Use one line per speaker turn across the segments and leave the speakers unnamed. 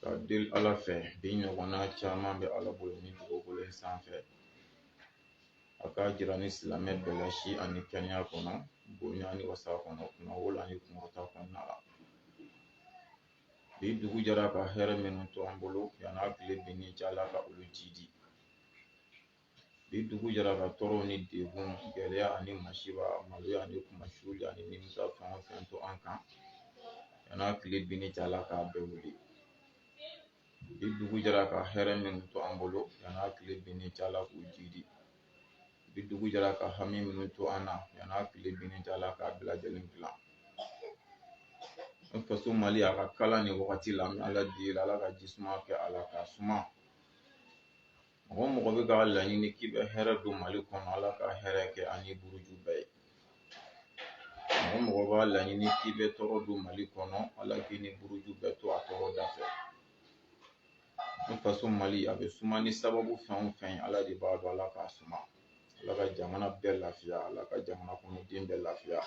Ka deli Ala fɛ bi ɲɔgɔnna caman bɛ Ala bolo nin dugukolo in sanfɛ a k'a jira ni silamɛ bɛɛ la si ani kɛnɛya kɔnɔ bonya ni wasa kɔnɔ kunnawolo ani kunkɔrɔta kɔnɔna la bi dugu jɛra ka hɛrɛ minnu to an bolo yan'a tile binni cɛ Ala ka olu jiidi bi dugu jɛra ka tɔɔrɔ ni degun gɛlɛya ani masiba maloya ani kunmasuli ani nimisa fɛn o fɛn to an kan yan'a tile binni cɛ ala k'a bɛɛ wuli bi dugu jɛra ka hɛrɛ minnu to an bolo yan'a tile binni cɛ ala k'u jiidi bi dugu jɛra ka hami minnu to an na yan'a tile binni cɛ ala k'a bɛɛ lajɛlen dilan an faso mali a ka kalan nin wagati la an bɛ ala deli ala ka ji suma kɛ a la k'a suma Mɔgɔ o mɔgɔ bɛ k'a laɲini k'i bɛ hɛrɛ don mali kɔnɔ ala ka hɛrɛ kɛ a ni buruju bɛɛ ye mɔgɔ o mɔgɔ b'a laɲini k'i bɛ tɔɔrɔ don mali kɔnɔ ala k'i ni buruju bɛɛ to a tɔɔrɔ da fɛ an faso mali a bɛ suma ni sababu fɛn o fɛn ala de b'a dɔn ala k'a suma ala ka jamana bɛɛ lafiya ala ka jamana kɔnɔden bɛɛ lafiya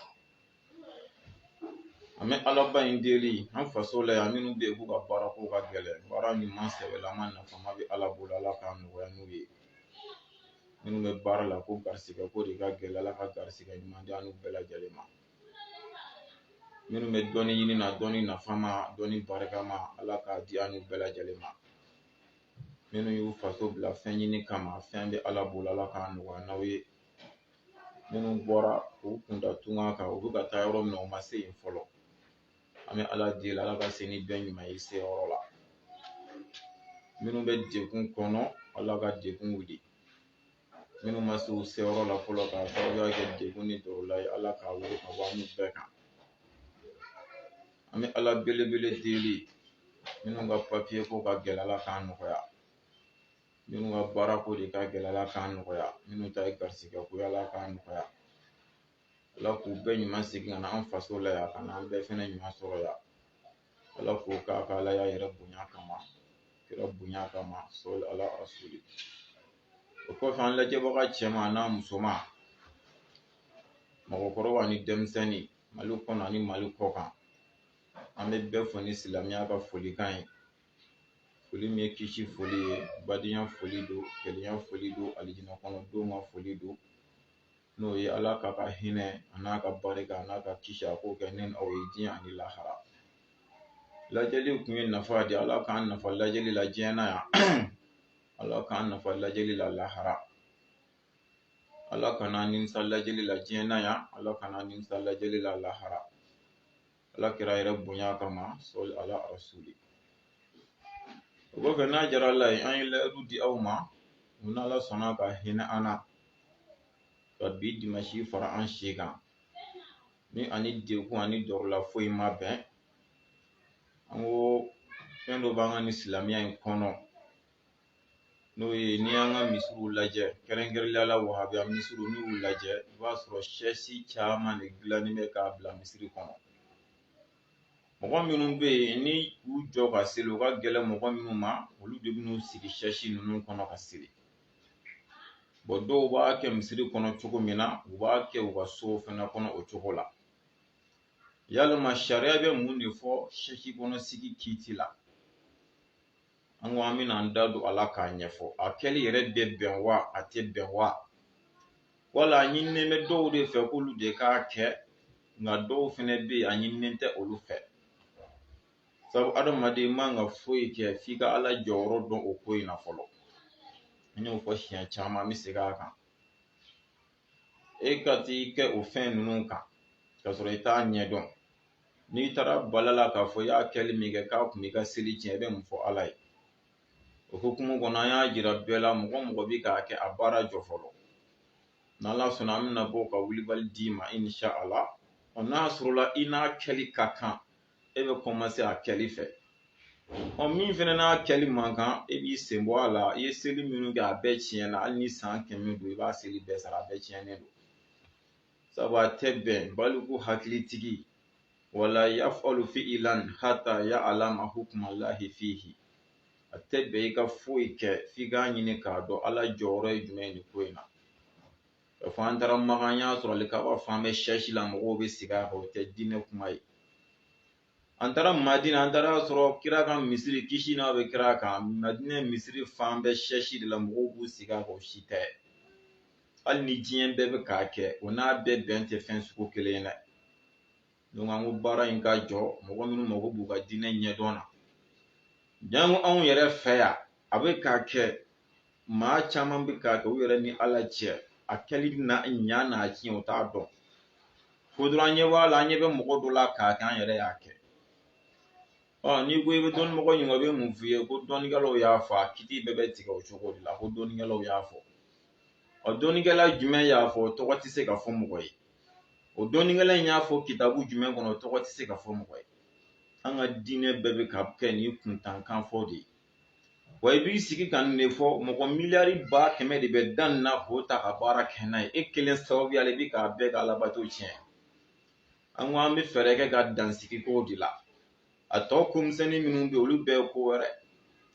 an bɛ alaba in deli an faso la yan minnu bɛ yen k'u ka baara ko ka gɛlɛn baara ɲuman sɛbɛlama nafama bɛ ala bolo ala k'a nɔgɔya n'u ye minnu bɛ baara la ko garisigɛ ko de ka gɛlɛn ala ka garisigɛ ɲuman di an n'u bɛɛ lajɛlen ma minnu bɛ dɔnni ɲini na dɔnni nafama dɔnni barikama ala k'a di an n'u bɛɛ lajɛlen ma minnu y'u faso bila fɛn ɲini kama fɛn bɛ ala bolo ala k'a nɔgɔya n'aw ye minnu bɔra k'u kunda tunga kan u bɛ ka taa yɔrɔ min na u ma se yen fɔlɔ an bɛ ala deli ala ka se ni bɛɛ ɲuman ye se yɔrɔ la minnu bɛ degun kɔnɔ ala ka degun wuli minnu ma se u se yɔrɔ la fɔlɔ k'a sababuya kɛ degun ni tɔɔrɔ ye ala k'a wuli ka bɔ an n'u bɛɛ kan an bɛ ala belebele deli minnu ka papiye ko ka gɛlɛn ala k'a nɔgɔya minnu ka baara ko de ka gɛlɛn ala k'a nɔgɔya minnu ta ye garisigɛ ko ala k'a nɔgɔya ala k'u bɛɛ ɲuman segin ka na an faso la yan ka na an bɛɛ fɛnɛ ɲuman sɔrɔ yan ala k'o k'a ka alaya yɛrɛ bonya kama kira bonya kama sɔli ala rasuli o kɔfɛ an lajɛbaga cɛman n'a musoman mɔgɔkɔrɔba ni denmisɛnnin mali kɔnɔ ani mali kɔ kan an bɛ bɛɛ fo ni silamɛya ka folikan ye foli min ye kisi foli ye badenya foli don kelenya foli don alijinɛ kɔnɔdenw ka foli don n'o ye ala k'a ka hinɛ an'a ka barika an'a ka kisi a k'o kɛ ne n'aw ye diɲɛ ani lahara lajɛli kun ye nafa di ala k'an nafa lajɛli la diɲɛ na yan ala k'an nafa lajɛli la lahara ala kan'an nimisa lajɛli la diɲɛ na yan ala kan'an nimisa lajɛli la lahara ala kira yɛrɛ bonya kama sɔli ala rasuli o kɔfɛ n'a jara ala ye an ye layidu di aw ma u n'ala sɔnna ka hinɛ an na ka bi dimasi fara an si kan ni an ni degun ani dɔrɔla foyi ma bɛn an ko fɛn dɔ b'an ka nin silamɛya in kɔnɔ n'o ye n'i y'an ka misiw lajɛ kɛrɛnkɛrɛnnenya la wahabiya misiriw n'i y'u lajɛ i b'a sɔrɔ sɛsi caman de dilannen bɛ k'a bila misiri kɔnɔ mɔgɔ minnu bɛ yen ni u jɔ ka seli u ka gɛlɛn mɔgɔ minnu ma olu de bɛn'u sigi sɛsi ninnu kɔnɔ ka seli bɔn dɔw b'a kɛ misiri kɔnɔ cogo min na u b'a kɛ u ka so fana kɔnɔ o cogo la yalima sariya bɛ mun de fɔ sɛsi kɔnɔ sigi kiiti la an ko an bɛna an da don a la k'a ɲɛfɔ a kɛli yɛrɛ bɛ bɛn wa a tɛ bɛn wa wala a ɲininen bɛ dɔw de fɛ k'olu de k'a kɛ nka dɔw fɛnɛ bɛ yen a ɲininen tɛ olu fɛ sabu adamaden man ka foyi kɛ f'i ka ala jɔyɔrɔ dɔn o ko in na fɔlɔ n y'o fɔ siɲɛ caman n bɛ segin a kan e ka t'i kɛ o fɛn ninnu kan k'a sɔrɔ i t'a ɲɛdɔn n'i taara bal'a la k'a fɔ i y'a kɛli min kɛ k'a kun b'i ka seli tiɲɛ i bɛ mun fɔ ala ye o hukumu kɔnɔ an y'a jira bɛɛ la mɔgɔ mɔgɔ bɛ k'a kɛ a baara jɔ fɔlɔ n'ala sɔnna an bɛna bɔ ka wulibali d'i ma inshala ɔ n'a sɔrɔla i n'a kɛli ka kan e bɛ kɔmanse a kɛli fɛ ɔ min fana n'a kɛli man kan e b'i sen bɔ a la i ye seli minnu kɛ a bɛɛ tiɲɛna hali ni san kɛmɛ don i b'a seli bɛɛ sara a bɛɛ tiɲɛnen don sabu a tɛ bɛn baliku hakilitigi wala yaf'alu fi'ilan hatta ya'lama hukmalahi fihi a tɛ bɛn i ka foyi kɛ f'i k'a ɲini k'a dɔn Ala jɔyɔrɔ ye jumɛn ye nin ko in na k'a fɔ an taara Makan an y'a sɔrɔ alikaba fan bɛɛ sɛsi la mɔgɔw bɛ sigi a kan o tɛ diinɛ kuma ye an taara madina an taar'a sɔrɔ kira ka misiri kisi n'a bɛ kira kan madina misiri fan bɛɛ sɛsi de la mɔgɔw b'u sigi a kan o si tɛ hali ni diɲɛ bɛɛ bɛ k'a kɛ o n'a bɛ bɛn tɛ fɛn sugu kelen ye dɛ donc an ko baara in ka jɔ mɔgɔ minnu mago b'u ka diinɛ ɲɛdɔn na janko anw yɛrɛ fɛ yan a bɛ ka kɛ maa caman bɛ k'a kɛ u yɛrɛ ni ala cɛ a kɛli n'a ɲa n'a tiɲɛ o t'a dɔn ko dɔrɔn an ɲɛ b'a la an ɲɛ bɛ mɔgɔ dɔ la k'a kɛ an yɛrɛ y'a kɛ ɔ n'i ko i bɛ dɔnni mɔgɔ ɲininka o bɛ mun f'i ye ko dɔnnikɛlaw y'a fɔ a kiiti bɛɛ bɛ tigɛ o cogo de la ko dɔnnikɛlaw y'a fɔ ɔ dɔnnikɛla jumɛn y'a fɔ tɔgɔ tɛ se ka fɔ mɔgɔ ye o dɔnnikɛla in y'a fɔ kitabu jumɛn kɔnɔ tɔgɔ tɛ se ka fɔ mɔgɔ ye an ka diinɛ bɛɛ bɛ ka kɛ ni kuntankanfɔ de ye wa i b'i sigi ka nin de fɔ mɔgɔ miliyari ba kɛmɛ de bɛ da nin na k'o ta ka baara kɛ n'a ye e kelen sababuya la i bɛ k'a bɛɛ ka alabato tiɲɛ an ko an bɛ fɛɛrɛ kɛ ka dansigi kow de la a tɔ ko misɛnnin minnu bɛ olu bɛɛ ko wɛrɛ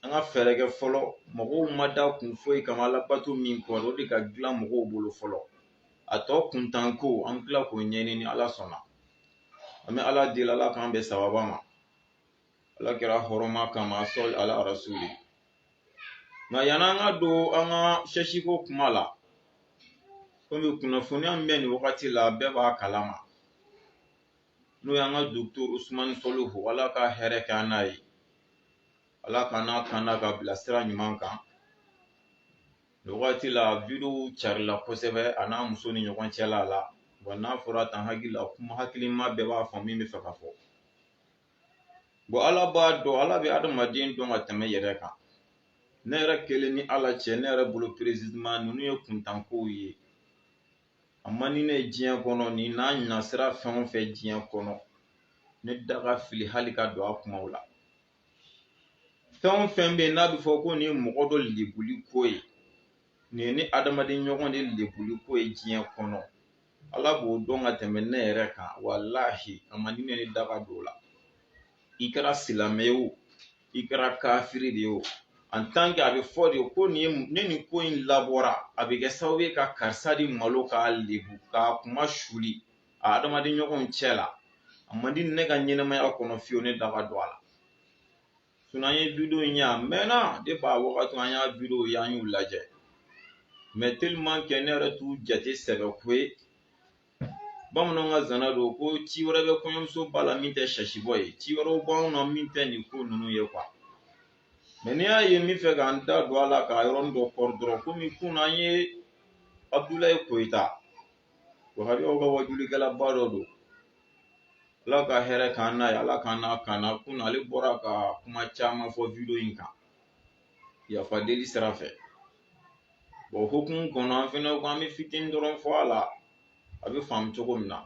an ka fɛɛrɛ kɛ fɔlɔ mɔgɔw ma da kun foyi kama alabato min kɔ o de ka dilan mɔgɔw bolo fɔlɔ a tɔ kuntanko an bɛ tila k'o ɲɛɲini ni ala sɔnna an bɛ ala deli ala k'an bɛn sawaba ma ala kira hɔrɔma kama sɔli ala arasuli nka yanni an ka don an ka sɛsiko kuma la komi kunnafoniya min bɛ nin wagati la bɛɛ b'a kalama n'o y'an ka docteur Usumani Solihu ala ka hɛrɛ kɛ an n'a ye ala k'an n'a kanda ka bila sira ɲuman kan nin wagati la wideyow carila kosɛbɛ a n'a muso ni ɲɔgɔn cɛla la wa n'a fɔra tan hakili la kuma hakilima bɛɛ b'a fɔ min bɛ fɛ ka fɔ ala b'a dɔn ala bɛ adamaden dɔn ka tɛmɛ yɛrɛ kan ne yɛrɛ kelen ni ala cɛ ne yɛrɛ bolo précisément ninnu ye kuntankow ye a man di ne ye diɲɛ kɔnɔ ni n'a ɲɛsira fɛn o fɛn diɲɛ kɔnɔ ne da ka fili hali ka don a kumaw la fɛn o fɛn bɛ yen n'a bɛ fɔ ko nin mɔgɔ dɔ lebuli ko ye nin ni adamaden ɲɔgɔn de lebuli ko ye diɲɛ kɔnɔ Ala b'o dɔn ka tɛmɛ ne yɛrɛ kan walahi a man di ne da ka don o la i kɛra silamɛ ye o i kɛra kafiri de ye o en tant que a bɛ fɔ de ko nin ye ni nin ko in labɔra a bɛ kɛ sababu ye ka karisa de malo k'a lebu k'a kunmasuli a adamaden ɲɔgɔnw cɛ la a man di ne ka ɲɛnɛmaya kɔnɔ fiyewu ne da ka don a la sinon an ye wideyo in ye a mɛnna depuis a wagati an y'a wideyow ye an y'u lajɛ mais tellement que ne yɛrɛ t'u jate sɛbɛ ko ye bamananw ka zana don ko ci wɛrɛ bɛ kɔɲɔmuso ba la min tɛ sasibɔ ye ci wɛrɛw b'anw na min tɛ nin ko ninnu ye quoi mais n'i y'a ye n bɛ fɛ k'an da don a la k'a yɔrɔnin dɔ kɔrɔ dɔrɔn komi kunun an ye abudulayi koyita wahabiyaw ka wajulikɛlaba dɔ don ala ka hɛrɛ k'an n'a ye ala k'an n'a kana kunun ale bɔra ka kuma caman fɔ wideyo in kan yafa deli sira fɛ bon o hokumu kɔnɔ an fɛnɛ ko an bɛ fitinin dɔrɔn fɔ a la a bɛ faamu cogo min na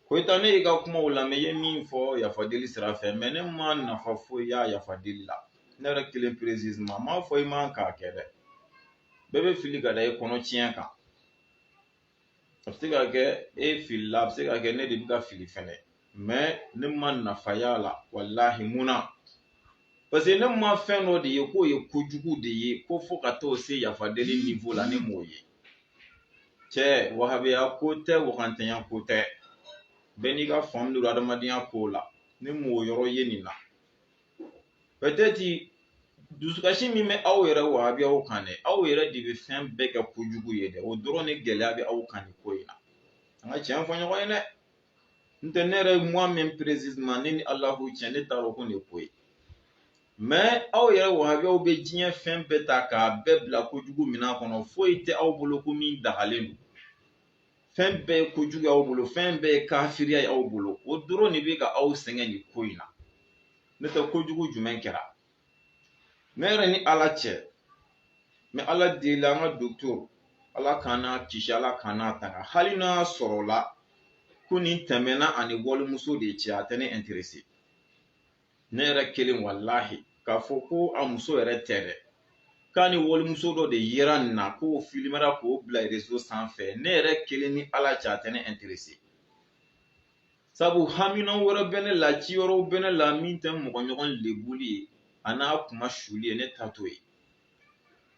koyita ne y'i ka kumaw lamɛn i ye min fɔ yafa deli sira fɛ mais ne ma nafa foyi y'a yafa deli la ne yɛrɛ kelen précisément m'a fɔ i man k'a kɛ dɛ bɛɛ bɛ fili ka da i kɔnɔ tiɲɛ kan a bɛ se ka kɛ e filila a bɛ se ka kɛ ne de bɛ ka fili fɛnɛ mais ne ma nafa y'a la walahi mun na parce que ne ma fɛn dɔ de ye k'o ye kojugu de ye ko fo ka t'o se yafa deli niveau la ne m'o ye cɛ wahabiya ko tɛ wagantanya ko tɛ bɛɛ n'i ka faamu don adamadenya ko la ne m'o yɔrɔ ye nin na peut-être dusukasi min bɛ aw yɛrɛ wahabiyaw kan dɛ aw yɛrɛ de bɛ fɛn bɛɛ kɛ kojugu ye dɛ o dɔrɔn de gɛlɛya bɛ aw kan nin ko in na an ka tiɲɛ fɔ ɲɔgɔn ye dɛ n tɛ ne yɛrɛ moi-même précisément ne ni alahu cɛ ne t'a dɔn ko nin ye ko ye mɛ aw yɛrɛ wahabiyaw bɛ diɲɛ fɛn bɛɛ ta k'a bɛɛ bila kojugu minan kɔnɔ foyi tɛ aw bolo ko min dagalen don fɛn bɛɛ ye kojugu y'aw bolo fɛn bɛɛ ye kafiriya y'aw bolo o dɔrɔn de bɛ ka aw sɛgɛn nin ko in na n'o tɛ kojugu jumɛn kɛra ne yɛrɛ ni ala cɛ mɛ ala deli an ka dɔgɔtɔrɔ ala k'an n'a kisi ala k'an n'a tanga hali n'a sɔrɔla ko nin tɛmɛna a ni walimuso de cɛ a tɛ ne interese ne yɛrɛ kelen walahi k'a fɔ ko a muso yɛrɛ tɛ dɛ k'a ni walimuso dɔ de yera nin na k'o filimera k'o bila rezo sanfɛ ne yɛrɛ kelen ni ala cɛ a tɛ ne interese sabu hamina wɛrɛ bɛ ne la ci wɛrɛ bɛ ne la min tɛ mɔgɔ ɲɔgɔn lebuli ye a n'a kunmasuuli ye ne ta t'o ye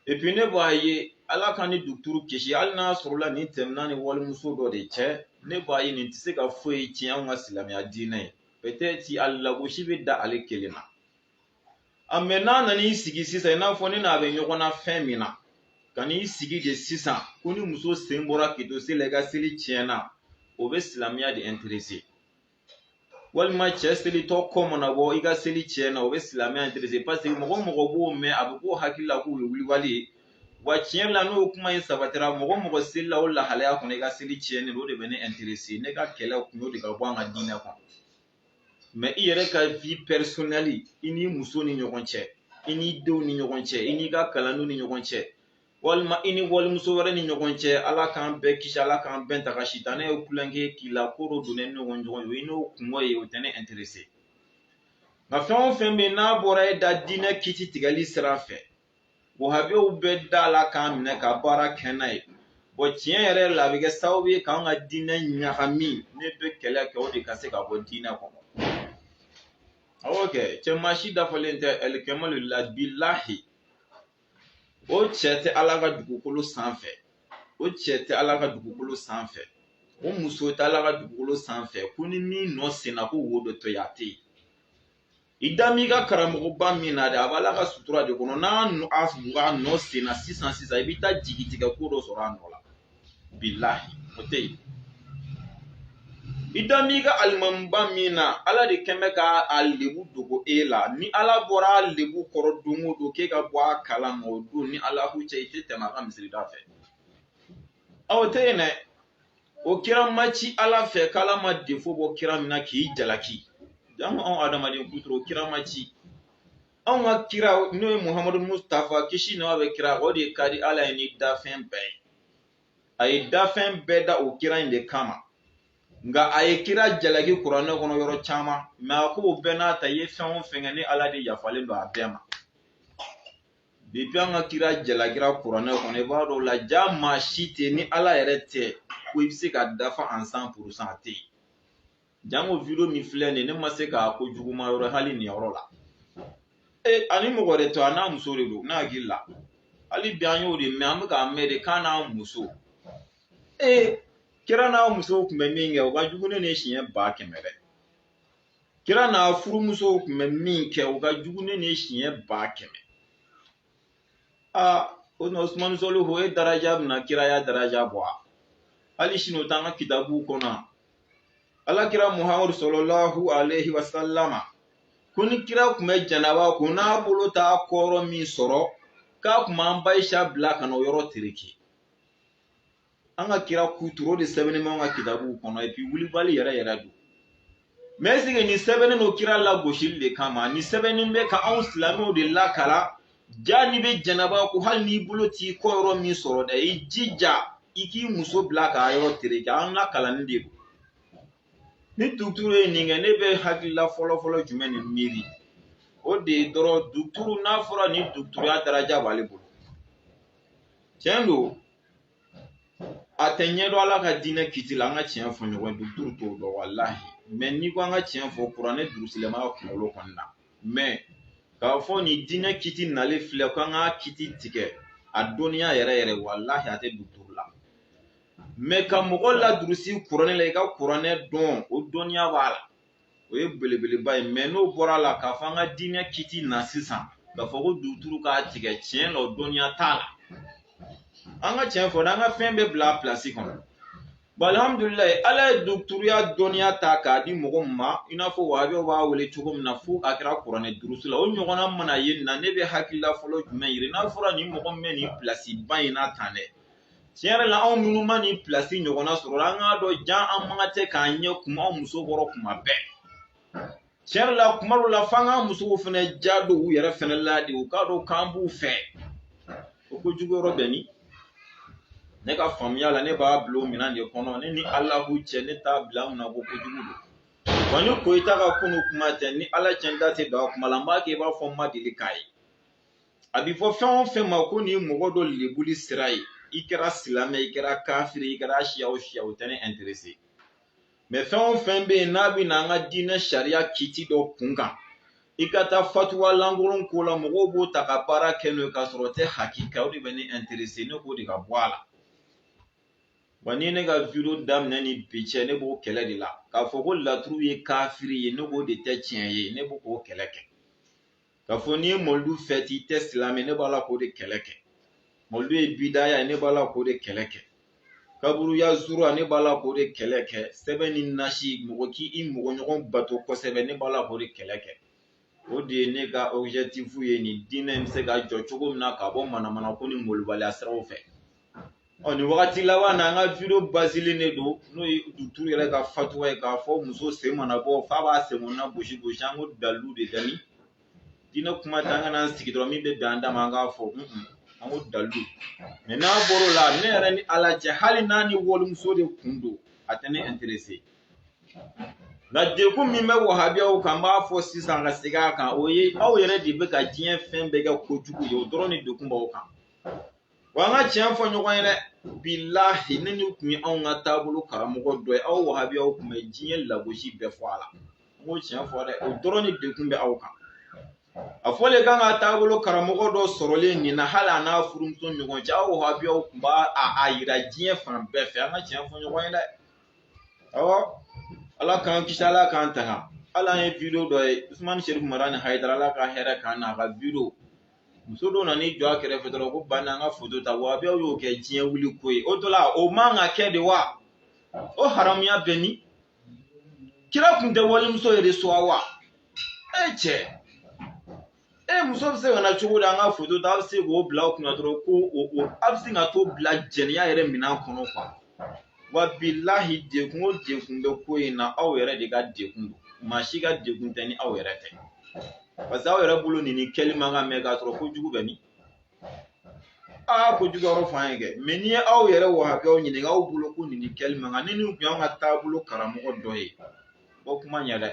epi ne b'a ye ala k'an ni dɔgɔtɔrɔ kisi hali n'a sɔrɔla nin tɛmɛna ni walimuso dɔ de cɛ ne b'a ye nin tɛ se ka foyi tiɲɛ anw ka silamɛya diinɛ ye peut-être a lagosi bɛ da ale kelen na a mɛ n'a nana i sigi sisan i n'a fɔ ne n'a bɛ ɲɔgɔn na fɛn min na ka n'i sigi de sisan ko ni muso sen bɔra k'i to seli la i ka seli tiɲɛna o bɛ silamɛya de interese walima cɛ selitɔ kɔ mana bɔ i ka seli tiɲɛna o bɛ silamɛya interese paseke mɔgɔ mɔgɔ b'o mɛn a bɛ k'o hakili la k'o ye wulibali ye wa tiɲɛ la n'o kuma in sabatira mɔgɔ mɔgɔ selila o lahalaya kɔnɔ i ka seli tiɲɛnen don o de bɛ ne interese ne ka kɛlɛ kun y'o de ka bɔ an ka diinɛ kɔnɔ mɛ i yɛrɛ ka vie personnelle i n'i muso ni ɲɔgɔn cɛ i n'i denw ni ɲɔgɔn cɛ i n'i ka kalandenw ni ɲɔgɔn cɛ walima i ni walimuso wɛrɛ ni ɲɔgɔn cɛ ala k'an bɛɛ kisi ala k'an bɛɛ tanga sitanɛ ye kulonkɛ k'i la ko dɔ donnen ɲɔgɔn ɲɔgɔn ye i n'o kunko ye o tɛ ne interese nka fɛn o fɛn bɛ yen n'a bɔra e da diinɛ kiti tigɛli sira fɛ wahabiyaw bɛ da la k'a minɛ ka baara kɛ n'a ye bɔn tiɲɛ yɛrɛ la a bɛ kɛ sababu ye k'an ka diinɛ ɲagami ne bɛ kɛlɛ kɛ o de ka se ka bɔ diinɛ kɔnɔ awɔ kɛ cɛ maa si dafalen tɛ alikamalu la bilahi o cɛ tɛ ala ka dugukolo sanfɛ o cɛ tɛ ala ka dugukolo sanfɛ o muso tɛ ala ka dugukolo sanfɛ ko ni min nɔ senna ko wo dɔ tɛ yen a tɛ yen i da m'i ka karamɔgɔba min na dɛ a b'ala ka sutura de kɔnɔ n'a nɔ a b'a nɔ sen na sisan sisan i bɛ taa jigi tigɛ ko dɔ sɔrɔ a nɔ la bilahi o tɛ yen i da m'i ka alimamuba min na ala de kɛn bɛ ka a lebu dogo e la ni ala bɔra a lebu kɔrɔ don o don k'e ka bɔ a kalama o don ni ala k'u cɛ i tɛ tɛmɛ a ka misirida fɛ o tɛ yen dɛ o kira ma ci ala fɛ k'ala ma defo bɔ kira min na k'i jalaki janko anw adamaden kuturu o kira ma ci anw ka kira n'o ye muhamadu mustafa kisi nɛɛma bɛ kira o de ka di ala ye ni dafɛn bɛɛ ye a ye dafɛn bɛɛ da o kira in de kama nka a ye kira jalaki kuranɛ kɔnɔ yɔrɔ caman mɛ a k'o bɛɛ n'a ta i ye fɛn o fɛn kɛ ne ala de yafalen don a bɛɛ ma depi an ka kira jalakira kuranɛ kɔnɔ i b'a dɔn la ja maa si tɛ ni ala yɛrɛ tɛ ko i bɛ se ka dafa an san purusan a tɛ yen janko video min filɛ nin ye ne ma se k'a ko juguma yɔrɔ hali nin yɔrɔ la ee ani mɔgɔ de to a n'a muso de don ne hakili la hali bi an y'o de mɛn an bɛ k'a mɛn de k'a n'a muso ee kira n'a musow tun bɛ min kɛ o ka jugu ni nin ye siɲɛ ba kɛmɛ dɛ kira n'a furumusow tun bɛ min kɛ o ka jugu ni nin ye siɲɛ ba kɛmɛ aa o na usumani sɔlihu e daraja bɛna kiraya daraja bɔ wa hali sini o t'an ka kitabuw kɔnɔ alakira muhamadu salalahu aleyhi wasalama ko ni kira tun bɛ janaba ko n'a bolo t'a kɔ yɔrɔ min sɔrɔ k'a tun b'an ba ayisa bila ka na o yɔrɔ tereke an ka kira kuturu o de sɛbɛnnen b'an ka kitabuw kɔnɔ epi wulibali yɛrɛ yɛrɛ don mɛ ɛseke nin sɛbɛnnen don kira lagosili de kama nin sɛbɛnnen bɛ ka anw silamɛw de lakalan ja n'i bɛ janaba ko hali n'i bolo t'i kɔ yɔrɔ min sɔrɔ dɛ i jija i k'i muso bila k'a yɔrɔ tereke an lakalanni de don ni duguturu ye nin kɛ ne bɛ hakilila fɔlɔfɔlɔ jumɛn de miiri o de ye dɔrɔn duguturu n'a fɔra ni duguturuya daraja b'ale bolo tiɲɛ don a tɛ ɲɛdɔn ala ka diinɛ kiti la an ka tiɲɛ fɔ ɲɔgɔn ye duguturu t'o dɔn walahi mɛ n'i ko an ka tiɲɛ fɔ kuranɛ durusilen b'a ka kunkolo kɔni na mɛ k'a fɔ nin diinɛ kiti nalen filɛ ko an ka kiti tigɛ a dɔnniya yɛrɛ yɛrɛ walahi a tɛ duguturu la mɛ ka mɔgɔ ladurusi kuranɛ la i ka kuranɛ dɔn o dɔnniya b'a la o ye belebeleba ye mɛ n'o bɔra la k'a fɔ an ka diinɛ kiti na sisan k'a fɔ ko duguturu k'a tigɛ tiɲɛ la o dɔnniya t'a la an ka tiɲɛ fɔ an ka fɛn bɛɛ bila a pilasi kɔnɔ bɔn alihamudulilayi ala ye duguturuya dɔnniya ta k'a di mɔgɔ min ma i n'a fɔ wahabiyaw b'a wele cogo min na fo a kɛra kuranɛ durusi la o ɲɔgɔnna mana ye nin na ne bɛ hakilila fɔlɔ jumɛn miiri n'a fɔra nin mɔgɔ min bɛ nin pilasiba in na tan dɛ tiɲɛ yɛrɛ la anw minnu ma nin pilasi ɲɔgɔnna sɔrɔ la an k'a dɔn jan an man ka tɛ k'an ɲɛ kuma anw muso kɔrɔ kuma bɛɛ tiɲɛ yɛrɛ la kuma dɔw la f'an k'an musow fɛnɛ ja don u yɛrɛ fɛnɛ la de u k'a dɔn k'an b'u fɛ o ko jugu yɔrɔ bɛ min ne ka faamuya la ne b'a bila o minɛn de kɔnɔ ne ni alahu cɛ ne t'a bila an kunna ko kojugu don wa ni koyita ka kunun kuma tɛ ni ala cɛ n da tɛ don a kuma la n b'a kɛ i b'a fɔ n ma deli k'a ye a bɛ fɔ fɛn o fɛn ma ko nin ye mɔgɔ dɔ lebuli sira ye i kɛra silamɛ i kɛra kafiri i kɛra siya o siya o tɛ ne interese mɛ fɛn o fɛn bɛ yen n'a bɛ na an ka diinɛ sariya kiti dɔ kun kan i ka taa fatuwa lankolon ko la mɔgɔw b'o ta ka baara kɛ n'o ye k'a sɔrɔ o tɛ hakika o de bɛ ne interese ne k'o de ka bɔ a la wa ni ne ka video daminɛ ni bi cɛ ne b'o kɛlɛ de la k'a fɔ ko laturu ye kafiri ye ne k'o de tɛ tiɲɛ ye ne b'o k'o kɛlɛ kɛ k'a fɔ n'i ye mɔlidu fɛti i tɛ silamɛ ne b'a la k'o de kɛlɛ kɛ mɔlidu ye bidaya ne b'a la k'o de kɛlɛ kɛ kaburuya zura ne b'a la k'o de kɛlɛ kɛ sɛbɛn ni nasi mɔgɔ k'i i mɔgɔ ɲɔgɔn bato kosɛbɛ ne b'a la k'o de kɛlɛ kɛ o de ye ne ka objectif ye nin diinɛ in bɛ se ka jɔ cogo min na ka bɔ manamana ko ni molobaliya siraw fɛ ɔ nin wagati laban na an ka video basilen de don n'o ye duturu yɛrɛ ka fatuwa ye k'a fɔ muso sen mana bɔ f'a b'a sen kɔnɔna gosi gosi an ko dalilu de dani diinɛ kuma ta an kana an sigi dɔrɔn min bɛ bɛn an da ma an k'a fɔ an ko dalilu mɛ n'a bɔr'o la ne yɛrɛ ni ala cɛ hali n'a ni walimuso de kun don a tɛ ne interese nka dekun min bɛ wahabiyaw kan n b'a fɔ sisan ka segin a kan o ye aw yɛrɛ de bɛ ka diɲɛ fɛn bɛɛ kɛ kojugu ye o dɔrɔn de dekun b'aw kan wa an ka tiɲɛ fɔ ɲɔgɔn ye dɛ bilahi ni nin tun ye anw ka taabolo karamɔgɔ dɔ ye aw wahabiyaw tun bɛ diɲɛ lagosi bɛɛ fɔ a la n b'o tiɲɛ fɔ dɛ o dɔrɔn de dekun bɛ aw kan a fɔlen k'an ka taabolo karamɔgɔ dɔ sɔrɔlen nin na hali a n'a furumuso ɲɔgɔn cɛ aw wahabiyaw tun b'a yira diɲɛ fan bɛɛ fɛ an ka tiɲɛ fɔ ɲɔgɔn ye dɛ awɔ ala k'an kisi ala k'an tanga ala an ye video dɔ ye usumani serifu madani hayidara ala ka hɛrɛ k'an na a ka video muso dɔ nana i jɔ a kɛrɛfɛ dɔrɔn ko bani an ka foto ta wahabiyaw y'o kɛ diɲɛ wuli ko ye o dɔ la o man ka kɛ de wa o haramuya bɛ min kira tun tɛ walimuso yɛrɛ de sɔn wa e cɛ e muso bɛ se ka na cogo di an ka foto ta a bɛ se k'o bila o kunna dɔrɔn ko o a bɛ se ka t'o bila jɛnɛya yɛrɛ minɛn kɔnɔ wa bilahi dekun o dekun bɛ ko in na aw yɛrɛ de ka dekun don maa si ka dekun tɛ ni aw yɛrɛ tɛ parce que aw yɛrɛ bolo nin in kɛli man kan mɛ k'a sɔrɔ ko jugu bɛ min aa ko jugu yɔrɔ f'an ye kɛ mɛ n'i ye aw yɛrɛ wahabiyaw ɲininka aw bolo ko nin in kɛli man kan ni nin tun y'an ka taabolo karamɔgɔ dɔ ye o kuma ɲɛ dɛ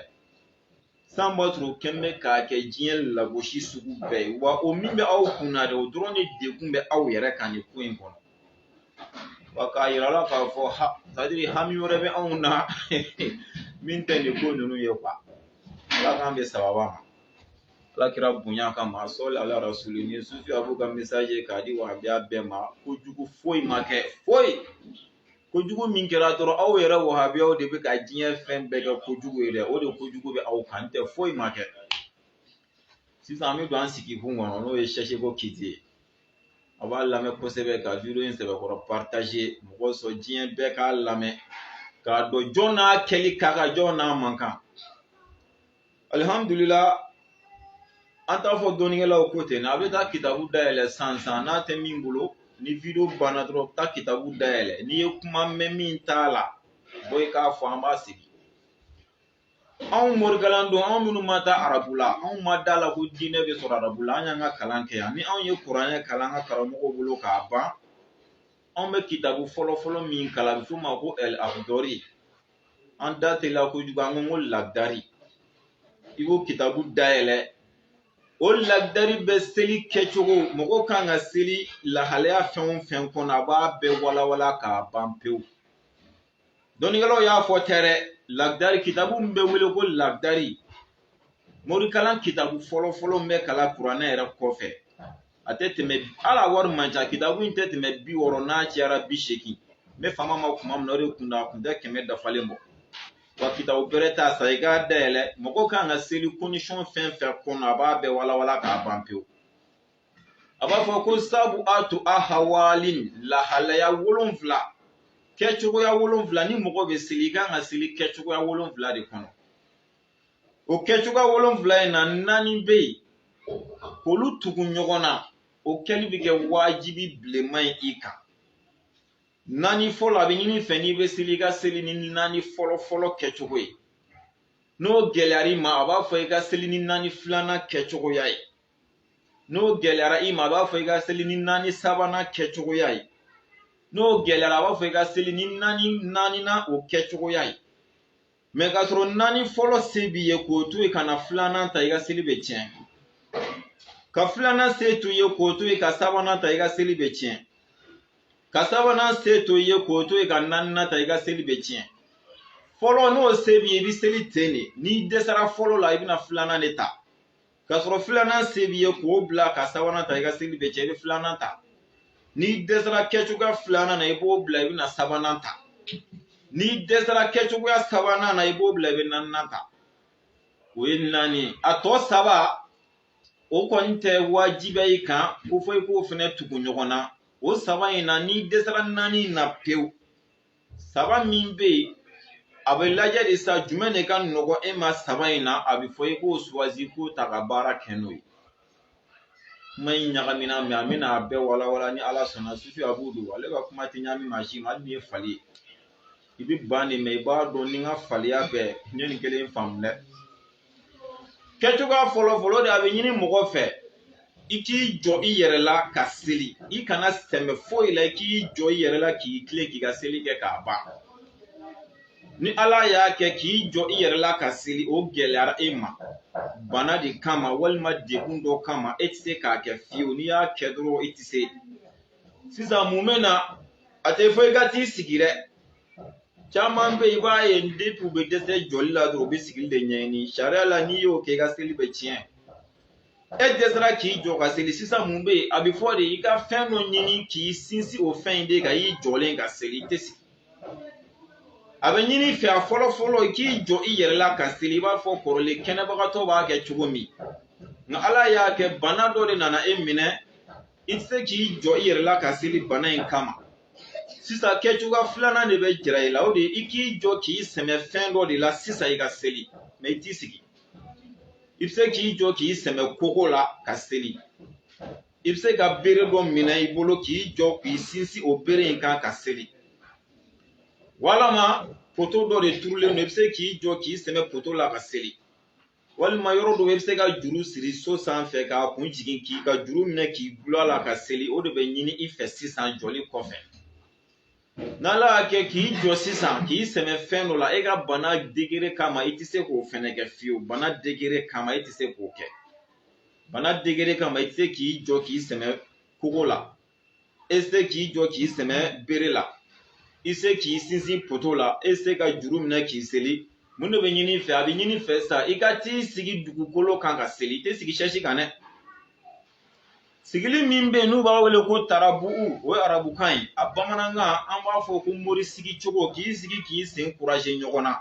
san b'a sɔrɔ o kɛn bɛ k'a kɛ diɲɛ lagosi sugu bɛɛ ye wa o min bɛ aw kun na dɛ o dɔrɔn de degun bɛ aw yɛrɛ kan nin ko in kɔnɔ wa k'a yira la k'a fɔ ha c'est-à-dire hami wɛrɛ bɛ anw na min tɛ nin ko ninnu ye quoi ala k'an bɛ sababa ma ala kira bonya kama sɔli ala rasuli ni sufi abu ka message k'a di wahabiya bɛɛ ma kojugu foyi ma kɛ foyi kojugu min kɛra dɔrɔn aw yɛrɛ wahabiyaw de bɛ ka diɲɛ fɛn bɛɛ kɛ kojugu ye dɛ o de kojugu bɛ aw kan tɛ foyi ma kɛ sisan an bɛ don an sigi kun kɔnɔ n'o ye sɛsi ko kiti ye a b'a lamɛn kosɛbɛ ka video in sɛbɛkɔrɔ partager mɔgɔ sɔrɔ diɲɛ bɛɛ k'a lamɛn k'a dɔn jɔn n'a kɛli ka kan jɔn n'a man kan alihamudulila an t'a fɔ dɔnnikɛlaw ko ten a bɛ taa kitabu dayɛlɛ san san n'a tɛ min bolo ni video banna dɔrɔn taa kitabu dayɛlɛ n'i ye kuma mɛn min t'a la bɔ i k'a fɔ an b'a sigi anw morikalan don anw minnu ma taa arabu la anw ma da la ko diinɛ bɛ sɔrɔ arabu la an y'an ka kalan kɛ yan ni anw ye kuranɛ kalan an ka karamɔgɔw bolo k'a ban anw bɛ kitabu fɔlɔfɔlɔ min kalan a bɛ f'o ma ko ɛl akhdari an da teliya kojugu an ko n ko lagdari i k'o kitabu dayɛlɛ o lagdari bɛ seli kɛcogo mɔgɔ kan ka seli lahalaya fɛn o fɛn kɔnɔ a b'a bɛɛ walawala k'a ban pewu dɔnnikɛlaw y'a fɔ tɛ dɛ lagdari kitabu min bɛ wele ko lagdari morikalan kitabu fɔlɔfɔlɔ min bɛ kalan kuranɛ yɛrɛ kɔfɛ a tɛ tɛmɛ hali a wari man ca kitabu in tɛ tɛmɛ bi wɔɔrɔ n'a cayara bi seegin n bɛ fama ma kuma min na o de kun da a kun tɛ kɛmɛ dafalen bɔ wa kitabu bɛrɛ t'a san i k'a dayɛlɛ mɔgɔ kan ka seli condition fɛn fɛn kɔnɔ a b'a bɛɛ walawala k'a ban pewu a b'a fɔ ko sabuatu ahawalin lahalaya wolonfila kɛcogoya wolonfila ni mɔgɔ bɛ seli i kan ka seli kɛcogoya wolonfila de kɔnɔ o kɛcogoya wolonfila in na naani bɛ yen k'olu tugu ɲɔgɔn na o kɛli bɛ kɛ wajibi bilenman ye i kan naani fɔlɔ a bɛ ɲini i fɛ n'i bɛ seli i ka seli ni naani fɔlɔ fɔlɔ kɛcogo ye n'o gɛlɛyara i ma a b'a fɔ i ka seli ni naani filanan kɛcogoya ye n'o gɛlɛyara i ma a b'a fɔ i ka seli ni naani sabanan kɛcogoya ye n'o gɛlɛyara a b'a fɔ i ka seli ni naani naaninan o kɛcogoya ye mais ka sɔrɔ naani fɔlɔ se b'i ye k'o to yen ka na filanan ta i ka seli bɛ tiɲɛ ka filanan se to i ye k'o to yen ka sabanan ta i ka seli bɛ tiɲɛ ka sabanan se to i ye k'o to yen ka naaninan ta i ka seli bɛ tiɲɛ fɔlɔ n'o se b'i ye i bɛ seli ten de n'i dɛsɛra fɔlɔ la i bɛna filanan de ta k'a sɔrɔ filanan se b'i ye k'o bila ka sabanan ta i ka seli bɛ cɛn i bɛ filanan ta n'i dɛsɛra kɛcogoya filanan na i b'o bila i bɛna sabanan ta n'i dɛsɛra kɛcogoya sabanan na i b'o bila i bɛ naaninan ta o ye naani ye a tɔ saba o kɔni tɛ wajibiya i kan ko fo i k'o fɛnɛ tugu ɲɔgɔn na o saba in na n'i dɛsɛra naani in na pewu saba min bɛ yen a bɛ lajɛ de sa jumɛn de ka nɔgɔn e ma saba in na a bɛ fɔ i k'o suwazi k'o ta ka baara kɛ n'o ye kuma in ɲagamina mɛ an bɛna a bɛɛ walawala ni ala sɔnna sufi abu don ale ka kuma tɛ ɲami maa si ma hali n'i ye fali ye i bɛ ban de mɛ i b'a dɔn ni n ka faliya bɛɛ n ye nin kelen faamu dɛ kɛcogoya fɔlɔ fɔlɔ de a bɛ ɲini mɔgɔ fɛ i k'i jɔ i yɛrɛ la ka seli i kana sɛmɛ foyi la i k'i jɔ i yɛrɛ la k'i tilen k'i ka seli kɛ k'a ban ni ala y'a kɛ k'i jɔ i yɛrɛ la ka seli o gɛlɛyara e ma bana de kama walima degun dɔ kama e tɛ se k'a kɛ fiyewu n'i y'a kɛ dɔrɔn i tɛ se sisan mun bɛ na a tɛ fɔ i ka t'i sigi dɛ caman bɛ i b'a ye depi u bɛ dɛsɛ jɔli la dɔrɔn u bɛ sigili de ɲɛɲini sariya la n'i y'o kɛ i ka seli bɛ tiɲɛ e dɛsɛra k'i jɔ ka seli sisan mun bɛ yen a bɛ fɔ de i ka fɛn dɔ ɲini k'i sinsin o fɛn in de kan i jɔlen ka seli i tɛ sigi a bɛ ɲini i fɛ a fɔlɔ fɔlɔ i k'i jɔ i yɛrɛ la ka seli i b'a fɔ kɔrɔlen kɛnɛbagatɔ b'a kɛ cogo min nka ala y'a kɛ bana dɔ de nana e minɛ i tɛ se k'i jɔ i yɛrɛ la ka seli bana in kama sisan kɛcogoya filanan de bɛ jira i la o de ye i k'i jɔ k'i sɛmɛ fɛn dɔ de la sisan i ka seli mɛ i t'i sigi i bɛ se k'i jɔ k'i sɛmɛ kogo la ka seli i bɛ se ka bere dɔ minɛ i bolo k'i jɔ k'i sinsin o bere in kan ka seli walama poto dɔ de turulen don i bɛ se k'i jɔ k'i sɛmɛ poto la ka seli walima yɔrɔ dɔ i bɛ se ka juru siri so sanfɛ k'a kun jigin k'i ka juru minɛ k'i gulon a la ka seli o de bɛ ɲini i fɛ sisan jɔli kɔfɛ n'ala y'a kɛ k'i jɔ sisan k'i sɛmɛ fɛn dɔ la e ka bana degere kama i tɛ se k'o fɛnɛ kɛ fiyewu bana degere kama e tɛ se k'o kɛ bana degere kama i tɛ se k'i jɔ k'i sɛmɛ kogo la e tɛ se k'i jɔ k'i sɛmɛ bere la i tɛ se k'i sinsin poto la e tɛ se ka juru minɛ k'i seli mun de bɛ ɲini i fɛ a bɛ ɲini i fɛ sa i ka t'i sigi dugukolo kan ka seli i tɛ sigi sɛsi kan dɛ sigili min bɛ yen n'u b'a wele ko tarabu o ye arabukan ye a bamanankan an b'a fɔ ko mori sigi cogo k'i sigi k'i sen kuraje ɲɔgɔn na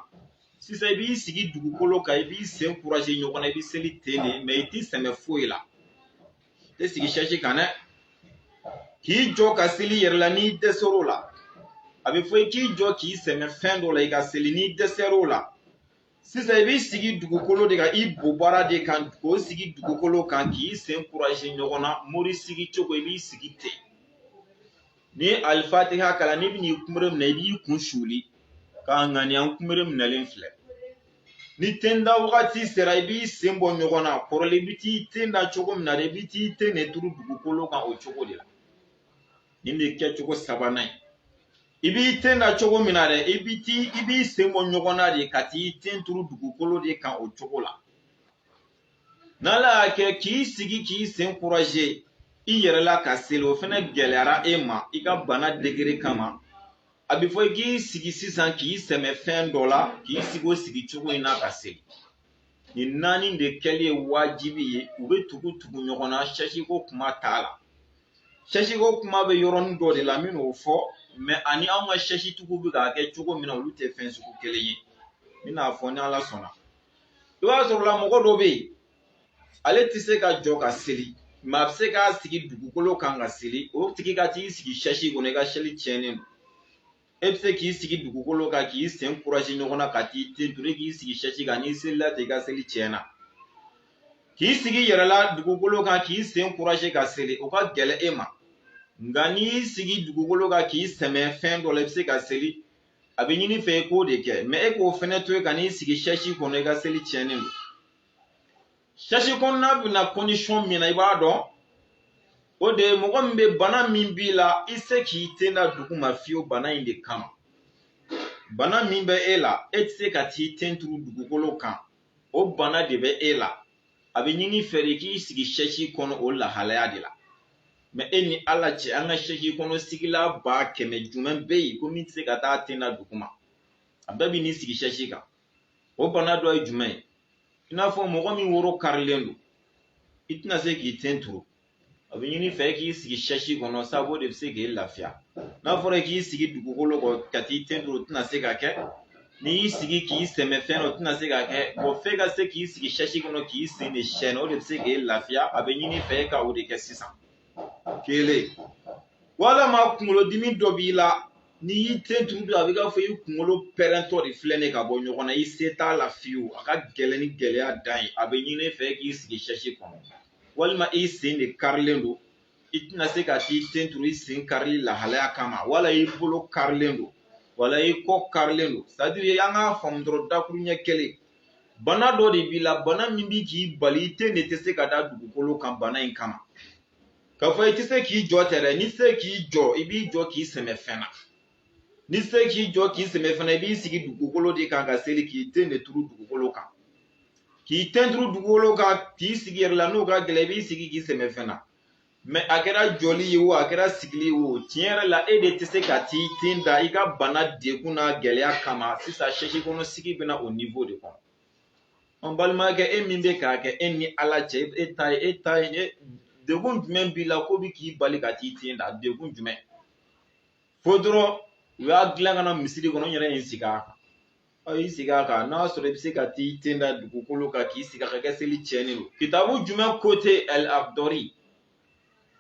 sisan i b'i sigi dugukolo kan i b'i sen kuraje ɲɔgɔn na i bɛ seli ten de mɛ i t'i sɛmɛ foyi la tɛ sigi sɛsi kan dɛ k'i jɔ ka seli yɛrɛ la n'i dɛsɛr'o la a bɛ fɔ i k'i jɔ k'i sɛmɛ fɛn dɔ la i ka seli n'i dɛsɛr'o la sisan i b'i sigi dugukolo de kan i bobara de kan k'o sigi dugukolo kan k'i sen kuraje ɲɔgɔn na mori sigi cogo i b'i sigi ten n'i ye alifatiha kalan n'i bɛn'i kunbere minɛ i b'i kun suuli k'a ŋaniya n kunbere minɛlen filɛ ni ten da wagati sera i b'i sen bɔ ɲɔgɔn na kɔrɔlen i bɛ t'i ten da cogo min na dɛ i bɛ t'i ten de turu dugukolo kan o cogo de la nin bɛ kɛ cogo sabanan ye i b'i ten da cogo min na dɛ i bɛ t'i i b'i sen bɔ ɲɔgɔn na de ka t'i ten turu dugukolo de kan o cogo la n'ala y'a kɛ k'i sigi k'i sen kuraje i yɛrɛ la ka seli o fana gɛlɛyara e ma i ka bana degere kama a bɛ fɔ i k'i sigi sisan k'i sɛmɛ fɛn dɔ la k'i sigi o sigi cogo in na ka seli nin naani de kɛli ye wajibi ye u bɛ tugu tugu ɲɔgɔn na sɛsiko kuma t'a la sɛsiko kuma bɛ yɔrɔnin dɔ de la n bɛn'o fɔ mɛ ani anw ka sɛsitigiw bɛ k'a kɛ cogo min na olu tɛ fɛn sugu kelen ye n bɛn'a fɔ ni ala sɔnna i b'a sɔrɔ la mɔgɔ dɔ bɛ yen ale tɛ se ka jɔ ka seli mɛ a bɛ se k'a sigi dugukolo kan ka seli o tigi ka t'i sigi sɛsi kɔnɔ i ka seli tiɲɛnen don e bɛ se k'i sigi dugukolo kan k'i sen kuraje ɲɔgɔn na ka t'i ten turu k'i sigi sɛsi kan n'i selila ten i ka seli tiɲɛna k'i sigi yɛrɛ la dugukolo kan k'i sen kuraje ka seli o ka gɛlɛn e ma nka n'i y'i sigi dugukolo kan k'i sɛmɛ fɛn dɔ la i bɛ se ka seli a bɛ ɲini fɛ i k'o de kɛ mɛ e k'o fɛnɛ to yen ka n'i sigi sɛsi kɔnɔ i ka seli tiɲɛnen don sɛsi kɔnɔna bɛ na kɔndisɔn min na i b'a dɔn o de ye mɔgɔ min bɛ bana min b'i la i se k'i ten da dugu ma fiyewu bana in de kama bana min bɛ e la e tɛ se ka t'i ten turu dugukolo kan o bana de bɛ e la a bɛ ɲini fɛ de k'i sigi sɛsi kɔnɔ o lahalaya de la mɛ e ni ala cɛ an ka sɛsi kɔnɔ sigila ba kɛmɛ jumɛn bɛ yen ko min tɛ se ka t'a ten da duguma a bɛɛ bɛ n'i sigi sɛsi kan o bana dɔ ye jumɛn ye i n'a fɔ mɔgɔ min woro karilen don i tɛna se k'i ten turu a bɛ ɲini fɛ k'i sigi sɛsi kɔnɔ sabu o de bɛ se k'i lafiya n'a fɔra k'i sigi dugukolo kan ka t'i ten turu o tɛna se ka kɛ n'i y'i sigi k'i sɛmɛ fɛn o tɛna se ka kɛ bɔn f'e ka se k'i sigi sɛsi kɔnɔ k'i sen de sɛɛnɛ o de bɛ se k'i lafiya a bɛ ɲini fɛ ka o de kɛ sisan kelen walama kunkolodimi dɔ b'i la n'i y'i ten turu a bɛ k'a fɔ i kunkolo pɛrɛntɔ de filɛ ne ka bɔ ɲɔgɔn na i se t'a la fiyewu a ka gɛlɛn ni gɛlɛya dan ye a bɛ ɲini fɛ k'i sigi sɛsi kɔnɔ walima i sen de karilen don i tɛna se ka t'i ten turu i sen karili lahalaya kama wala i bolo karilen don wala i kɔ karilen don c'est à dire an k'a faamu dɔrɔn dakuru ɲɛ kelen bana dɔ de b'i la bana min bɛ k'i bali i ten de tɛ se ka da dugukolo kan bana in kama k'a fɔ i tɛ se k'i jɔ tɛ dɛ n'i se k'i jɔ i b'i jɔ k'i sɛmɛ fɛn na n'i se k'i jɔ k'i sɛmɛ fɛn na i b'i sigi dugukolo de kan ka seli k'i ten de turu dugukolo kan k'i ten turu dugukolo kan k'i sigi yɛrɛ la n'o ka gɛlɛn i b'i sigi k'i sɛmɛ fɛn na mɛ a kɛra jɔli ye o a kɛra sigili ye o tiɲɛ yɛrɛ la e de tɛ se ka t'i ten da i ka bana degun n'a gɛlɛya kama sisan sɛsi kɔnɔ sigi bɛna o niveau de kɔnɔ an balimakɛ e min bɛ k'a kɛ e ni ala cɛ e ta ye e ta ye e degun jumɛn b'i la k'o bɛ k'i bali ka t'i ten da degun jumɛn fo dɔrɔn u y'a dilan ka na misiri kɔnɔ n yɛrɛ ye n sigi a kan ɔ y'i sigi a kan n'a sɔrɔ i bɛ se ka t'i ten da dugukolo kan k'i sigi a kan kɛ seli tiɲɛnen don kitabu jumɛn ko ten al akhdari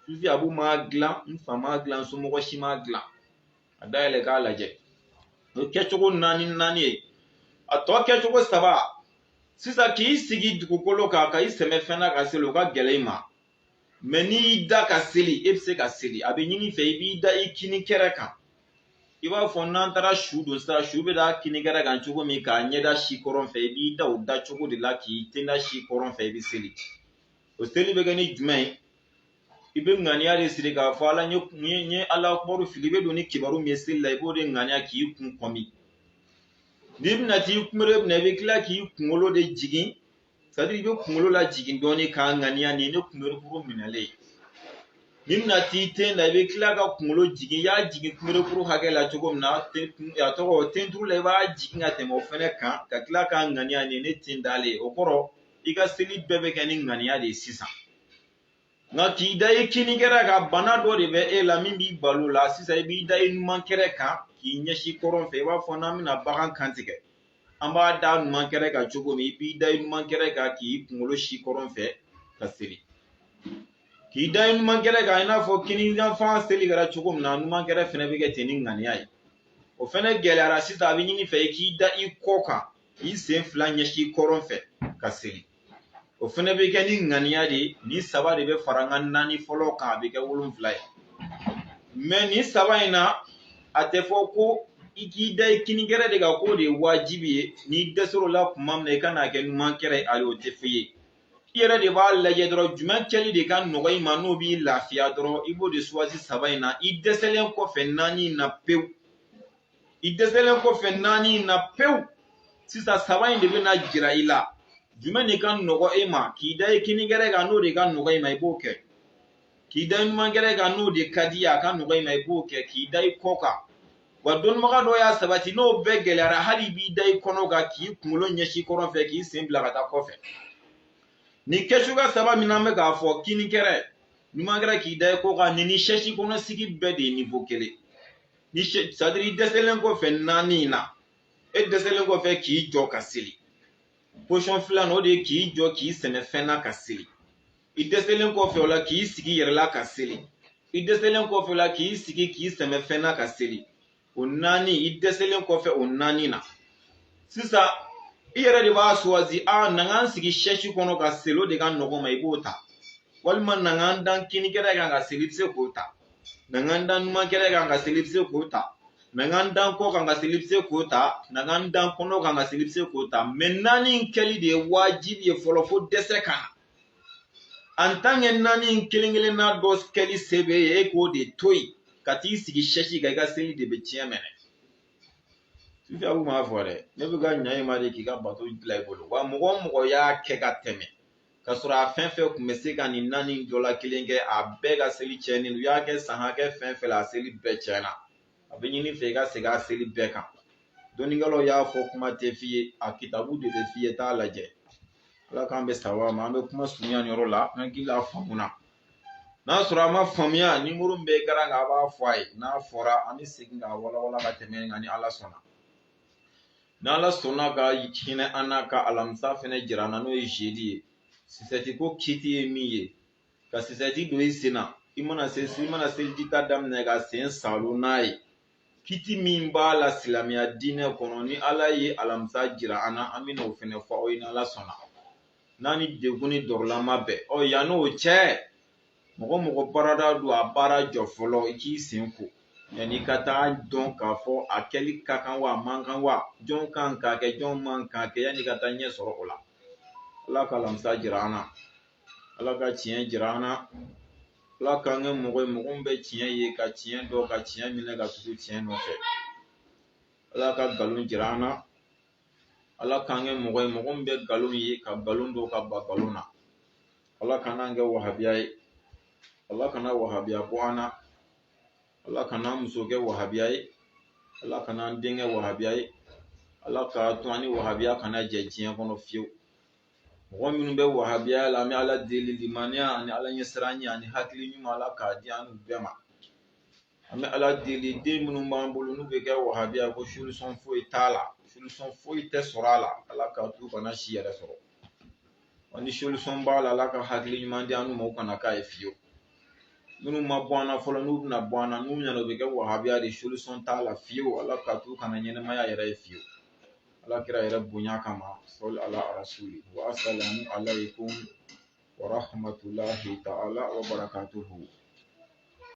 sufi abu m'a dilan n fa m'a dilan n somɔgɔ si m'a dilan a dayɛlɛ k'a lajɛ o ye kɛcogo naani naani ye a tɔ kɛcogo saba sisan k'i sigi dugukolo kan ka i sɛmɛ fɛn na ka seli o ka gɛlɛn i ma mɛ n'i y'i da ka seli e bɛ se ka seli a bɛ ɲini i fɛ i b'i da i kini kɛrɛ kan i b'a fɔ n'an taara su don sisan su bɛ da kini kɛrɛ kan cogo min k'a ɲɛda sin kɔrɔn fɛ i b'i da o da cogo de la k'i tenda sin kɔrɔn fɛ i bɛ seli o seli bɛ kɛ ni jumɛn ye i bɛ ŋaniya de siri k'a fɔ ala n ye ala akubaru fili i bɛ don ni kibaru min ye seli la i b'o de ŋaniya k'i kun kɔmi n'i bɛna t'i kunbere minɛ i bɛ tila k'i kunkolo de jigin c'est à dire i bɛ kunkolo lajigin dɔɔnin k'a ŋaniya nin ne kunberekuru minɛlen ye n'i bɛna t'i ten da i bɛ tila ka kunkolo jigin i y'a jigin kunberekuru hakɛ la cogo min na a tɔgɔ tenturu la i b'a jigin ka tɛmɛ o fɛnɛ kan ka tila k'a ŋaniya nin ne ten dalen ye o kɔrɔ i ka seli bɛɛ bɛ kɛ ni ŋaniya de ye sisan nka k'i da i kini kɛrɛ kan bana dɔ de bɛ e la min b'i bal'o la sisan i b'i da i numan kɛrɛ kan k'i ɲɛsin kɔrɔn fɛ i b'a fɔ n'an bɛna bagan kantigɛ an b'a da numan kɛrɛ kan cogo min i b'i da i numan kɛrɛ kan k'i kunkolo sin kɔrɔn fɛ ka seli k'i da i numan kɛrɛ kan i n'a fɔ kini yanfan seli kɛra cogo min na numan kɛrɛ fɛnɛ bɛ kɛ ten ni ŋaniya ye o fɛnɛ gɛlɛyara sisan a bɛ ɲini i fɛ i k'i da i kɔ kan k'i sen fila ɲɛsin kɔrɔn fɛ ka seli o fɛnɛ bɛ kɛ ni ŋaniya de ye nin saba de bɛ fara n ka naani fɔlɔ kan a bɛ kɛ wolonfila ye mɛ nin saba in na a tɛ fɔ ko i k'i da i kini kɛrɛ de kan k'o de ye wajibi ye n'i dɛsɛr'o la tuma min na i ka n'a kɛ numan kɛrɛ ye ayi o tɛ f'i ye i yɛrɛ de b'a lajɛ dɔrɔn jumɛn kɛli de ka nɔgɔ i ma n'o b'i lafiya dɔrɔn i b'o de suwasi saba in na i dɛsɛlen kɔfɛ naani in na pewu i dɛsɛlen kɔfɛ naani in na pewu sisan saba in de bɛna jira i la jumɛn de ka nɔgɔ e ma k'i da i kini kɛrɛ kan n'o de ka nɔgɔ i ma i b'o kɛ k'i da i numan kɛrɛ kan n'o de ka di ye a ka nɔgɔ i ma i b'o kɛ k'i da i kɔ kan wa dɔnnibaga dɔ y'a sabati n'o bɛɛ gɛlɛyara hali i b'i da i kɔnɔ kan k'i kunkolo ɲɛsin kɔrɔn fɛ k'i sen bila ka taa kɔfɛ nin kɛcogoya saba min an bɛ k'a fɔ kini kɛrɛ numan kɛrɛ k'i da i kɔ kan nin ni sɛsi kɔnɔ sigi bɛɛ de ye nivo kelen ni sadiri i dɛsɛlen kɔfɛ naani in na e dɛsɛlen kɔfɛ k'i jɔ ka seli pozisɔn filanan o de ye k'i jɔ k'i sɛmɛ fɛn na ka seli i dɛsɛlen kɔfɛ o la k'i sigi yɛrɛ la ka seli i dɛsɛlen kɔfɛ o la k'i sigi k'i sɛmɛ fɛn na ka seli o naani i dɛsɛlen kɔfɛ o naani na sisan i yɛrɛ de b'a suwazi a na n ka n sigi sɛsi kɔnɔ ka seli o de ka nɔgɔ n ma i b'o ta walima na n ka n da n kini kɛrɛ kan ka seli i bɛ se k'o ta na n ka n da n numan kɛrɛ kan ka seli i bɛ se k'o ta na n ka n da n kɔ kan ka seli i bɛ se k'o ta na n ka n da n kɔnɔ kan ka seli i bɛ se k'o ta mɛ naani in kɛli de ye wajibi ye fɔlɔ fo dɛsɛ ka na an tan kɛ naani in kelen kelenna dɔ kɛli se b'e ye e k'o de to yen ka t'i sigi sɛsi kan i ka seli de bɛ tiɲɛ mɛ ne sufi abu m'a fɔ dɛ ne bɛ ka ɲa i ma de k'i ka bato dilan i bolo wa mɔgɔ o mɔgɔ y'a kɛ ka tɛmɛ ka sɔrɔ a fɛn fɛn kun bɛ se ka nin naani dɔ la kelen kɛ a bɛɛ ka seli tiɲɛnen u y'a kɛ san hakɛ fɛn fɛn la a seli bɛɛ tiɲɛna a bɛ ɲini i fɛ i ka segin a seli bɛɛ kan dɔnnikɛlaw y'a fɔ kuma tɛ f'i ye a kitabu de bɛ f'i ye t'a lajɛ ala k'an bɛn sawaba ma an bɛ kuma surunya nin yɔrɔ la an hakili la faamuna n'a sɔrɔ a ma faamuya nimoro min bɛ ekaran kan a b'a fɔ a ye n'a fɔra an bɛ segin k'a walawala ka tɛmɛ nka ni ala sɔnna n'ala sɔnna ka hinɛ an na ka alamisa fɛnɛ jira an na n'o ye zedi ye sisɛti ko kiti ye min ye ka sisɛti don i sen na i mana se i mana seliji ta daminɛ ka sen saalo n'a ye kiti min b'a la silamɛya diinɛ kɔnɔ ni ala ye alamisa jira an na an bɛna o fɛnɛ fɔ aw ye n'ala sɔnna n'an ni degun ni dɔrɔla ma bɛn ɔ yan n'o cɛ mɔgɔ mɔgɔ baarada don a baara jɔ fɔlɔ i k'i sen ko yanni i ka t'a dɔn k'a fɔ a kɛli ka kan wa a man kan wa jɔn kan k'a kɛ jɔn man k'a kɛ yanni i ka t'a ɲɛ sɔrɔ o la ala ka alamisa jira an na ala ka tiɲɛ jira an na ala k'an kɛ mɔgɔ ye mɔgɔ min bɛ tiɲɛ ye ka tiɲɛ dɔn ka tiɲɛ minɛ ka tugu tiɲɛ nɔfɛ ala ka nkalon jira an na ala k'an kɛ mɔgɔ ye mɔgɔ min bɛ nkalon ye ka nkalon dɔn ka ban nkalon na ala kana an kɛ wahabiya ye ala kana wahabiya bɔ an na ala kana an muso kɛ wahabiya ye ala kana an den kɛ wahabiya ye ala k'a to an ni wahabiya kana jɛ diɲɛ kɔnɔ fiyewu mɔgɔ minnu bɛ wahabiya la an bɛ ala deli limaniya ani ala ɲɛsiranɲɛ ani hakili ɲuman ala k'a di an bɛɛ ma an bɛ ala deli den minnu b'an bolo n'u bɛ kɛ wahabiya ko solisɔn foyi t'a la solisɔn foyi tɛ sɔrɔ a la ala k'a to u kana si yɛrɛ sɔrɔ wa ni solisɔn b'a la ala ka hakili ɲuman di an ma u kana k'a ye fiyewu minnu ma bɔ an na fɔlɔ n'u bɛna bɔ an na n'u ɲɛna u bɛ kɛ wahabiya de solisɔn t'a la fiyewu ala k'a to u kana ɲɛnamaya yɛrɛ ye fiyewu ala kira yɛrɛ bonya kama sɔli ala rasuli wa asalamu alaykum wa rahmatulahi ta'ala wa barakatuhu